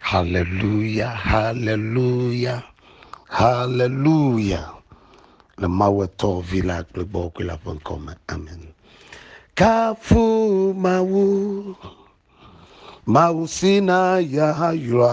Haleluya, haleluya, haleluya. Le Mawu etɔ vi la kple gbɔgbɔ la ƒe ŋkɔ me. Amen. Kafu Mawu, Mawu si na ya yɔa.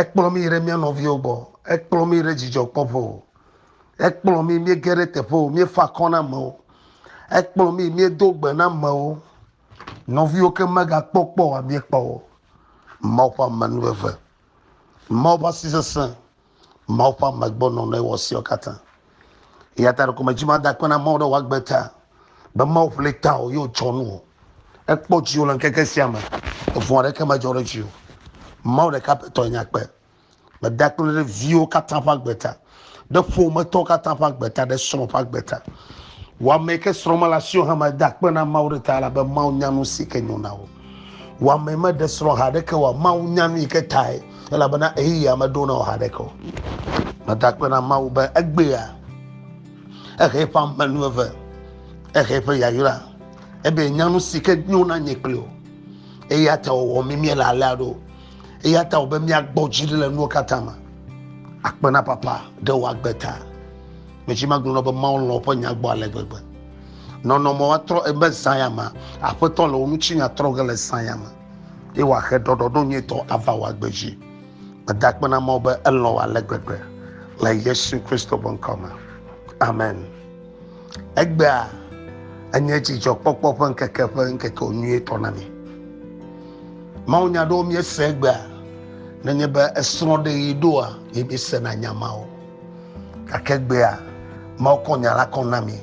Ekplɔ mí yi ɖe mía nɔviwo gbɔ. Ekplɔ mí yi ɖe dzidzɔkpɔƒe. Ekplɔ mí míege ɖe teƒewo, míefa akɔ na amewo. Ekplɔ mí míedo gbe na amewo. Nɔviwo ke megakpɔ kpɔ oa, míekpɔ wo. Mawu ƒe amenuveve, Mawu ƒe asi sesẽ. Mawu ƒe ame gbɔ nɔnɔe wɔ siawo katã. Eya ta ɖeko medzi ma da akpe na Mawu ɖe wòagbe ta be Mawu ƒle ta o ye wòtsɔ nu o. Ekpɔ dziwò le ŋkeke sia me. Evu aɖeke medzɔ ɖe dziwò. Mawu ɖeka pɛ tɔe nye akpe. Meda akpe ɖe viwo katã ƒe agbe ta, ɖe ƒometɔwo katã ƒe agbe ta, ɖe srɔ̃ ƒe agbe ta. Wò ame yi ke srɔ̃ mele asiwò hã meda akpe na Mawu ɖe ta elabe Mawu nya nu si ke nyo na wò. Wɔame meɖe srɔ̃ ha aɖeke o, Mawu nya nu yi ke tae, elabena ɣeyiɣia meɖo na wò ha aɖeke o. Meda akpe na Mawu be egbea, ehe eƒe ame nu eve, ehe eƒe yayra, ebe nya nu si ke nyo na nye kpli o. Eya ta wòwɔ mí míele alea ɖo. Eya ta wòbe míagbɔ dzi ɖi le nuwo katã me. Akpe na Papa ɖe wò agbe ta. Medzima gblɔ nɔ be Mawu lɔ̃ woƒe nya gbɔ ale gbegbe. Nɔnɔme woatrɔ ebe zãya me, Aƒetɔ le wò ŋutinya trɔ ge le zãya me, eye wòahe ɖɔɖɔɖo nyuitɔ ava wò agbe dzi. Meda akpe na Mawu be elɔ̃ wò ale gbegbe le Yesu Kristo ƒe ŋkɔ me. Amen. Egbea enye dzidzɔkpɔkpɔ ƒe ŋkeke ƒe ŋkeke nyuitɔ na mi. Mawunya aɖewo míese egbea, nenye be esrɔ̃ɖeɣi ɖoa, ye míesena nya mawo. Gake gbea Mawu kɔ nya la kɔ na mi,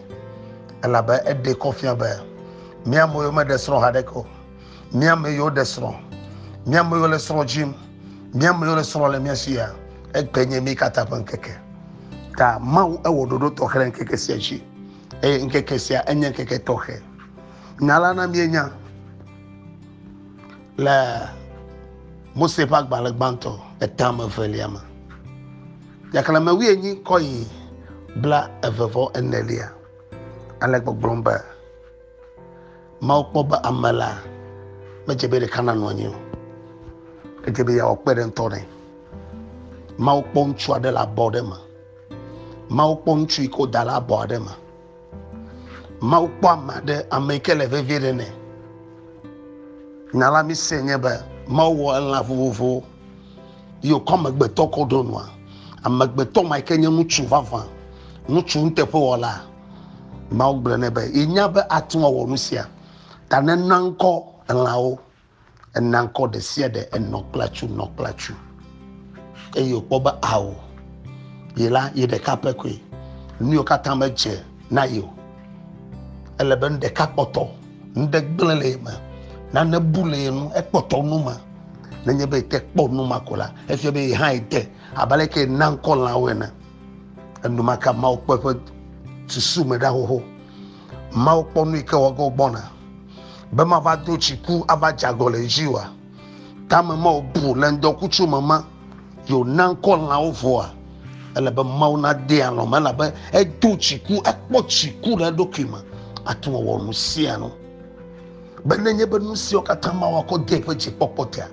elabe eɖee kɔ fia be mía ame yiwo meɖe srɔ̃ haɖeke o, mía ame yiwo ɖe srɔ̃, mía ame yiwo le srɔ̃ dzim, mía ame yiwo le srɔ̃ le mía si ya, egbe nye mí katã ƒe ŋkeke. Ta Mawu ewɔ ɖoɖo tɔxɛ ɖe ŋkeke sia dzi, eye ŋkeke sia enye ŋkeke tɔxɛ. Nya la na míenya le Mose ƒe agbalẽ gbãtɔ etame evelia me. Xexlẽme wuienyi kɔ yi bla eve vɔ enelia. Ale gbɔgblɔm be, Mawu kpɔ be ame la medze be ɖeka nanɔ anyi o. Edze be yeawɔ kpe ɖe ŋutɔ nɛ. Mawu kpɔ ŋutsu aɖe le abɔ aɖe me. Mawu kpɔ ŋutsu yi ke woda le abɔ aɖe me. Mawu kpɔ ame aɖe, ame yi ke le vevie ɖe nɛ. Nya la mise nye be Mawu wɔ elã vovovowo yi wòkɔ amegbetɔ kɔ ɖo nua. Amegbetɔ ma yi ke nye ŋutsu vavã, ŋutsu nuteƒewɔla, Mawu gblɔ nɛ be yenya be ate ŋu awɔ nu sia ta nena ŋkɔ elãwo. Ena ŋkɔ ɖe sia ɖe enɔ kple atsu, nɔ kple atsu. Eye wòkpɔ be ao ye la ye ɖeka pɛ koe. Nu yiwo katã medze na ye o. Ele be nu ɖeka kpɔtɔ, nu ɖe gblẽ le ye me, nane bu le ye nu, ekpɔtɔ nu me. Nenye be ete kpɔ nu ma ko la, efia be ye hã ede abe ale ke ena ŋkɔ lãwo ene. Enumake Mawu kpɔ eƒe susu me ɖa xoxo. Mawu kpɔ nu yi ke wɔ ge wògbɔna, be mava do tsiku ava dze agɔ le edzi oa? Tame ma wòbu le ŋdɔkutsu me ma yi wòna ŋkɔ lãwo vɔa? Ele be Mawu nadee alɔ̃ me, elabe edo tsiku, ekpɔ tsiku le eɖokui me ate ŋu awɔ nu sia nu. Be nenye be nu siawo katã Mawu akɔ dee ƒe dzikpɔkpɔ tea,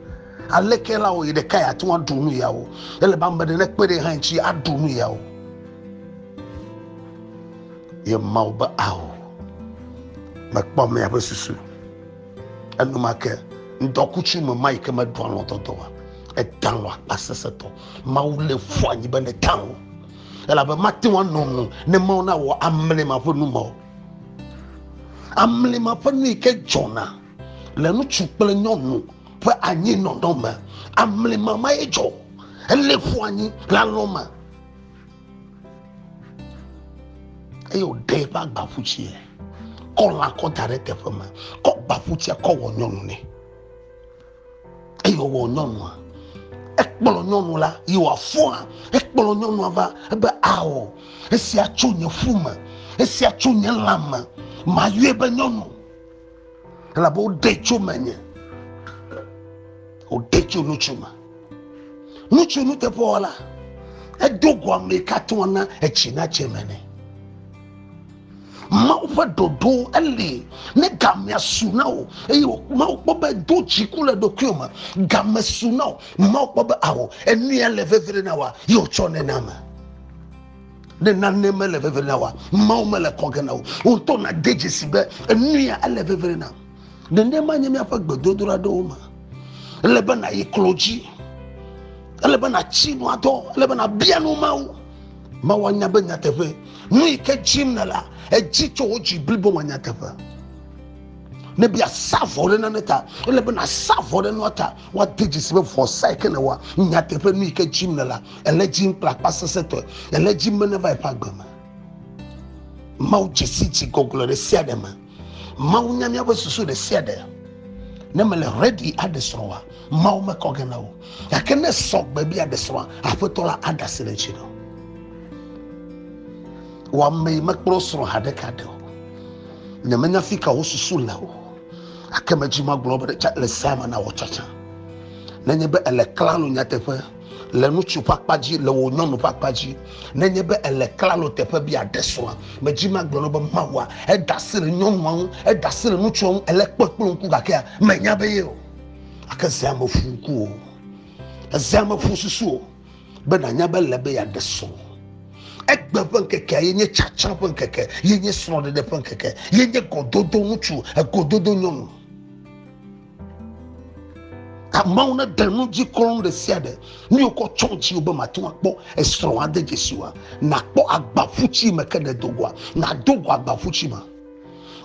aleke la wɔ yi ɖekae ate ŋu aɖu nu yawo? Ele be ame aɖe nekpe ɖe ye hã ŋuti aɖu nu yawo. Ye Mawu be, Ao, mekpɔ miaƒe susu. Enumake ŋdɔkutsu me ma yi ke meɖoa lɔ̃dɔdɔ wa, edã lɔ akpa sesẽtɔ. Mawu lé fu anyi be nedã o, elabe mate ŋu anɔ nu ne Mawu nawɔ amle ma ƒe nu ma o. Amle ma ƒe nu yi ke dzɔna le ŋutsu kple nyɔnu ƒe anyinɔnɔ me, amle ma ma ye dzɔ. Elé fu anyi le alɔ̃ me. eye wòɖe eƒe agbaƒutsiɛ kɔ lã kɔ da ɖe teƒe ma kɔ gbaƒutsiɛ kɔ wɔ nyɔnu nɛ eye wòwɔ nyɔnua ekplɔ nyɔnu la yi wòafɔa ekplɔ nyɔnua va ebe ao esia tso nye ƒu me esia tso nye lã me mayɔe be nyɔnu elabe woɖe tso menye woɖe tso nutsu me nutsu nuteƒewɔla edo go ame yi katã na etsi na tse me nɛ mawu ƒe ɖoɖo eli ne gamea su na wò eye mawu kpɔ be do dziku le ɖokuiwò me game su na wò mawu kpɔ be awɔ enuya le vevie na wòa ye wòtsɔ nena me ne nane mele vevere na wa mawo mele kɔ ge na wo woŋutɔ nade dzesi be enuya ele vevere na nenema nye míaƒe gbedodoɖa ɖewo me ele be nayi klo dzi ele be natsi nua dɔ ele be nabia nu mawu mawu anya be nyateƒe nu yi ke dzim na la edzi tso wo dzi blibo me nyateƒe ne bia sa vɔ ɖe nane ta ele be nasa vɔ ɖe nua ta Woade dzi si be vɔsae ke nèwɔa, nyateƒe nu yi ke dim nèlea, ele dim kple akpa sesẽtɔe. Ele dim be neva yeƒe agbe me. Mawu dze si dzi gɔgɔle ɖe sia ɖe me. Mawu nya míaƒe susu ɖe sia ɖe. Ne mele ready aɖe srɔ̃a, Mawu mekɔ ge na wò. Gake ne sɔ gbe be yeaɖe srɔ̃a, Aƒetɔ la aɖe asi ɖe edzi na wò. Wò amee mekplɔ srɔ̃ ha ɖeka ɖe o. Nyemenya fi ka wò susu le o. ake me dzi magblɔ be ɖe le sea me na wɔ tsatsa nenye be ele klalo nyateƒe le ŋutsu ƒe akpa dzi le wò nyɔnu ƒe akpa dzi nenye be ele klalo teƒe bi aɖe srɔ̃a medzi magblɔ no be mawua eda asi le nyɔnua ŋu eda asi le ŋutsua ŋu ele kpɔ kple ŋku gakea menya be ye o ake zea me fu ku o ezea me fu susu o be nànya be le be yeaɖe srɔ̃ egbe ƒe ŋkekea ye nye tsatsa ƒe ŋkeke ye nye srɔ̃ɖeɖe ƒe ŋkeke ye nye gɔdodo ŋutsu egododo nyɔnu amewo ne ɖe nu dzi kɔn ɖe sia ɖe nu yi wokɔ tsɔ ŋuti be mate ŋu akpɔ esrɔ̃ ade dzesi wa nakpɔ agbaƒutsi me ke ne dogoa nado go agbaƒutsi me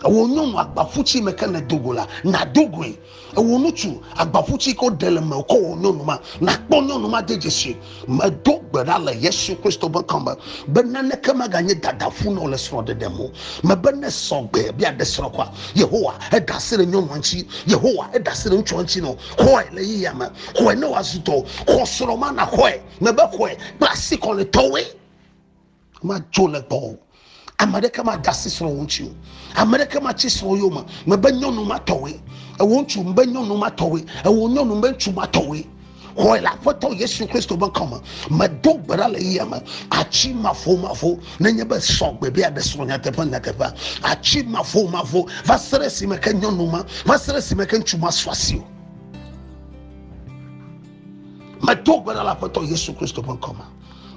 ewɔ nyɔnu agbaƒutsi me ke ne dogo la nado goe Ewo nutsu agbaƒu ci ko ɖe le me ko wo nyɔnu ma na kpɔ nyɔnu ma de dzesi me do gbe ɖa le Yesu Kristo be kɔme be naneke maga nye dada ƒu na le srɔ̃ ɖeɖe mo me be ne sɔgbe bia ɖe srɔ̃ kwa Yehowa eda se le nyɔnu anci Yehowa eda se le ŋutsu anci no kɔe le yi yame kɔe ne wa zutɔ kɔ srɔ̃ ma na kɔe me be kɔe kpla si kɔ le tɔwe madzo le gbɔ o ame aɖeke made asi srɔ̃ wo ŋuti o ame aɖeke matsi srɔ̃ yome mebe nyɔnu matɔwoe ewo ŋutsu mbe nyɔnu matɔwoe ewo nyɔnu mbe ŋutsu matɔwoe xɔe le aƒetɔ yesu kristo ƒe ŋkɔ me medo gbe ɖa le yia me atsi mavomavo nenye be sɔ gbe be aɖe srɔ̃ nyateƒe nyateƒea atsi mavomavo va se ɖe esime ke nyɔnu ma va se ɖe esime ke ŋutsu ma sɔ asi o medo gbe ɖa le aƒetɔ yesu kristo ƒe ŋkɔ me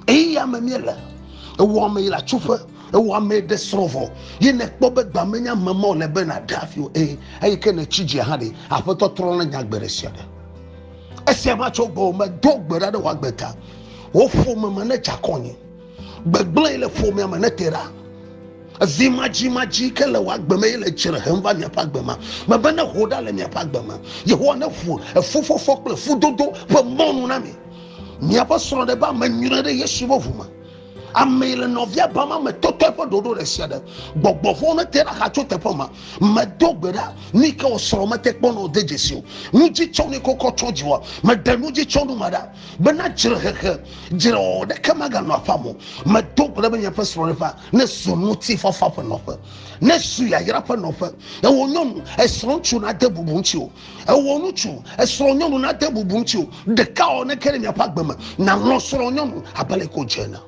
Eya me míele. Ewɔ ame yi le atsoƒe, ewɔ ame ɖe srɔ̃ vɔ, ye nèkpɔ be gba menye ame ma wòle be nàɖe afi o. Ee, eyi ke nètsi dzi hã ɖe, Aƒetɔ trɔ na nya gbe ɖe sia ɖe. Esia va tso gbɔwò me, do gbe ɖa ɖe wò agbe ta. Wò ƒome me nedze akɔ anyi. Gbegblẽ yi le ƒomea me nete ɖa. Zi madzimadzi ke le wò agbe me ye le dzre hem va miaƒe agbe me. Mebe neho ɖa le miaƒe agbe me. Yehowa neƒu efufɔfɔ kple efudodo ƒe mɔnu na mi. Míaƒe srɔ̃ ɖe be ame nyuie ɖe Yesu ƒe ʋu me. Amee le nɔvia ba ma me tɔtɔe ƒe ɖoɖo ɖe sia ɖe. Gbɔgbɔ vɔ̃wo ne te ɖa xa tso teƒe ma. Medo gbe ɖa, nu yi ke wò srɔ̃ mete kpɔ na wò de dzesi o. Nu dzi tsɔ ne kokɔ tsɔ dziwòa. Meɖe nu dzi tsɔ nu ma ɖa. Bena dzre hehe, dzre wɔwɔ ɖeke maganɔ aƒea me o. Medo gbe ɖa be miaƒe srɔ̃ ɖe ƒa ne zu ŋuti fafa ƒe nɔƒe. Ne zu yayra ƒe nɔƒe. Ewò nyɔnu, esrɔ̃ ŋutsu na de bubu ŋuti o. ewɔ ŋutsu esrɔ̃ nyɔnu na de bubu ŋuti o ɖeka ɔ ne ke ɖe miaƒe agbe me nàlɔ̃ srɔ̃ nyɔnu abe le ko dze ene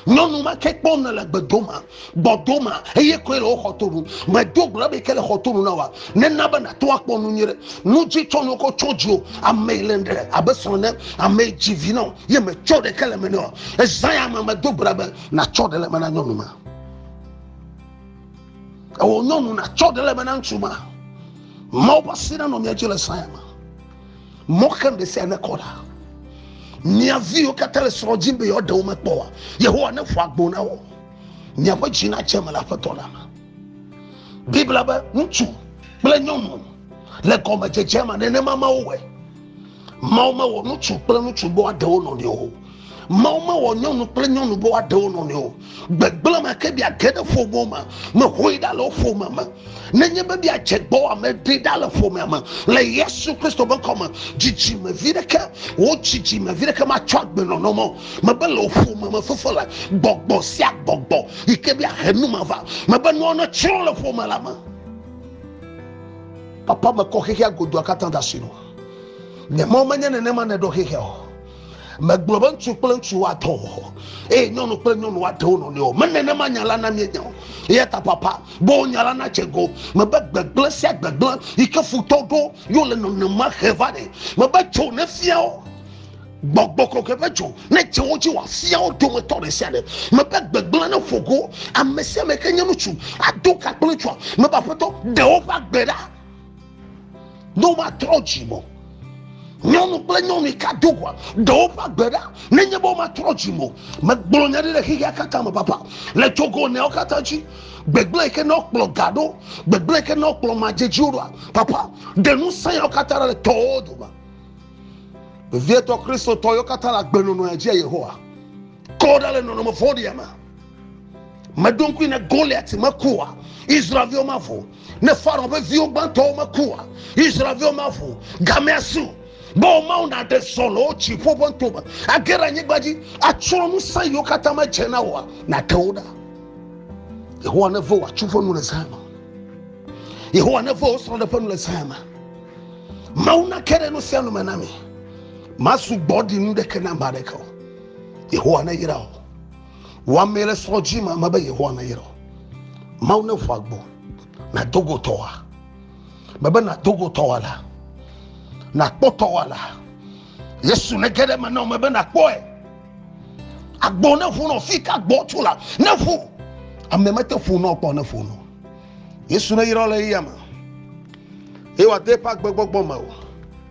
nyɔnu ma ke kpɔm nele gbedoma gbɔdoma eye koe le wo xɔtonu medo gblɔ be ke le xɔtonu na wa nena be nàto akpɔ nu nyuie ɖe nu dzi tsɔ nu kɔ tsɔ dzi o ame yi le ɖe abe srɔ̃ ne ame yi dzi vi na o ye metsɔ ɖeke le me ne o ezã ya me medo gblɔ be natsɔ ɖe le me na nyɔnu ma ewɔ nyɔnu natsɔ ɖe le me na ŋutsu ma mawo ƒe asi nanɔ mia dzi le saya me mɔ xem ɖe sia ne kɔ ɖa mia viwo katã le srɔ̃ dzi be yewoaɖe wo mekpɔ wa yehowa ne ƒo agbo na wo miaƒe dzi nadze me le aƒetɔ la me biblia be ŋutsu kple nyɔnu le gɔmedzedze ma nenema ma wowɔe Mawu mewɔ ŋutsu kple ŋutsu be woaɖe wo nɔnɔewo o. Mawu mewɔ nyɔnu kple nyɔnu be woaɖe wo nɔnɔewo o. Gbegblẽ me ke biage ɖe ƒomewo me, mehoe ɖa le wo ƒome me. Nenye be biadze gbɔwòa, meɖe ɖa le ƒomea me. Le Yesu Kristo ƒe ŋkɔ me, dzidzime vi ɖeke, wò dzidzime vi ɖeke matsɔ agbe nɔnɔ me o. Mebe le wò ƒome me fefo la, gbɔgbɔ sia gbɔgbɔ yi ke be ahe nu ma va. Mebe nuawo netsrɔ̃ le ƒome la me. Papa, mekɔ xexea godoa katã de asi nɔwò. nye mɔ menye nenema nèɖo xexe o megblɔ be ŋutsu kple ŋutsu woatɔ o eye nyɔnu kple nyɔnu woatɔ wo nɔnɔewo me nenema nya la na míenya o eya ta papa bo nya la natse go mebe gbegblẽ sia gbegblẽ yi ke futɔ ɖo yo le nɔnɔme xe va ne mebe tso ne fia wo gbɔgbɔ kɔkɔe ƒe dzo ne dze wo dzi wòafia wo dometɔ ɖe sia ɖe mebe gbegblẽ ne ƒo go ame sia ame ke nye ŋutsu ado ka kple ŋutsua mebe aƒetɔ ɖe woƒe agbe ɖa ne womatrɔ dzi mo nyɔnu kple nyɔnu ka do gua ɖewo ƒe agbe ɖa nenye be womatrɔ dzi mo megblɔ nya ɖi le xexea katã me papa le togo neawo katã dzi gbegblẽ yi ke ne wokplɔ ga ɖo gbegblẽ yi ke ne wokplɔ madzedziwo ɖoa papa ɖe nu sã yawo katã le tɔwo dome vevietɔ kristotɔ yawo katã le agbenɔnɔ ya dzi yehowa kɔ ɖa le nɔnɔme vɔ̃ɖia me meɖo ŋkui ne goliat mekua israelviwo mavo ne farao ƒe viwo gbãtɔwo mekua israelviwo mavo gamea su be womawo naɖe sɔ le wo dziƒo ƒe ŋtome age ɖe anyigba dzi atsrɔ̃ ŋusẽ yiwo katã medze na woa nate wo ɖa yehowa neve wòatsu ƒe nu le zã me yehowa neve wosrɔ̃ ɖe ƒe nu le zã me mawu nake ɖe nu sia nu me na mi masu gbɔ ɖi nu ɖeke na ame aɖeke o yehowa neyra o Wɔamee le srɔ̃ dzi ma me be Yehowa nayra wò. Mawu ne ƒo agbo nàdo go tɔwòa. Mebe nàdo go tɔwòa la, nàkpɔ tɔwòa la. Yesu ne ge ɖe eme na wò mebe nàkpɔe. Agbo ne ƒo nɔ fi ka gbɔ tso la, ne ƒo. Ame mete ƒo nɔ kpɔ ne ƒo nɔ. Yesu ne yra le eya me. Eye wòade eƒe agbegbɔgbɔ me o.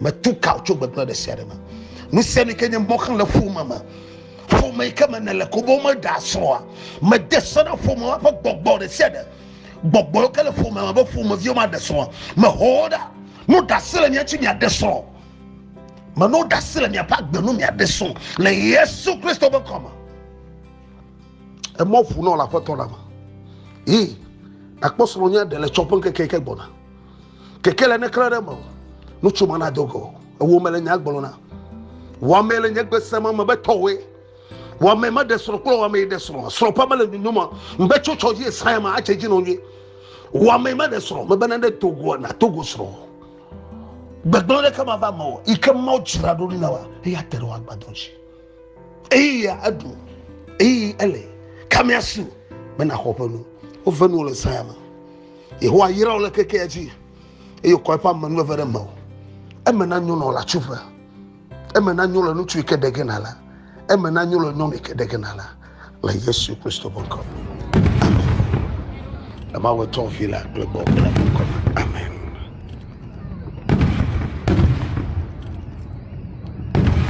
Metu ka wò tso gbegblẽ ɖe sia ɖe me. Nu sia nu ke nye mɔxlẽ le ƒome me. Ƒome yi ke me nèle ko be womeɖe asrɔ̃a, mede se na ƒomea ƒe gbɔgbɔ ɖe sia ɖe. Gbɔgbɔ yi ke le ƒomea me be ƒomeviwo maɖe srɔ̃a, meho wo ɖa. Meɖo ɖase le mia ŋuti miaɖe srɔ̃. Meɖo ɖase le miaƒe agbe nu miaɖe srɔ̃ le Yesu Kristo ƒe ŋkɔ me. Emɔ ʋu nɔ le Aƒetɔ la me. Yi, nakpɔ srɔ̃nye ɖe le tsɔƒe ŋkeke yi ke gbɔna. Keke le neklẽ ɖe me o. Nutso ma na dogo. Ewo me le nya gblɔ na. Wɔmee le nye gbese me me be tɔwoe. Wɔmee me ɖe srɔ̃ kple wɔmee ɖe srɔ̃. Srɔ̃ ƒe me le nyonyo me. Me be tso tsɔ dzi esae ma atse dzi nɔ nyuie. Wɔmee me ɖe srɔ̃. Me be na ɖe togo na togo srɔ̃. Gbegblẽ ɖe ke ma va me o. Yi ke ma dzra ɖo na wa. Eya te ɖe wa gbadɔ dzi. Eyi ya eɖu. Eyi ele. Kame asi. Me na xɔ ƒe nu. Wo ve nu le sae ma. Yehowa yra wò le kekea dzi eye wòkɔ eƒe ame nueve ɖe mewò. Eme nanyo nɔ le atsuƒe, eme nanyo le ŋutsu yi ke ɖe ge nàle, eme nanyo le nyɔnu yi ke ɖe ge nàle le Yesu Kristo ƒe ŋkɔ me. Amen. Le Mawu tɔ vi la kple gbɔ kple ŋkɔ me. Amen.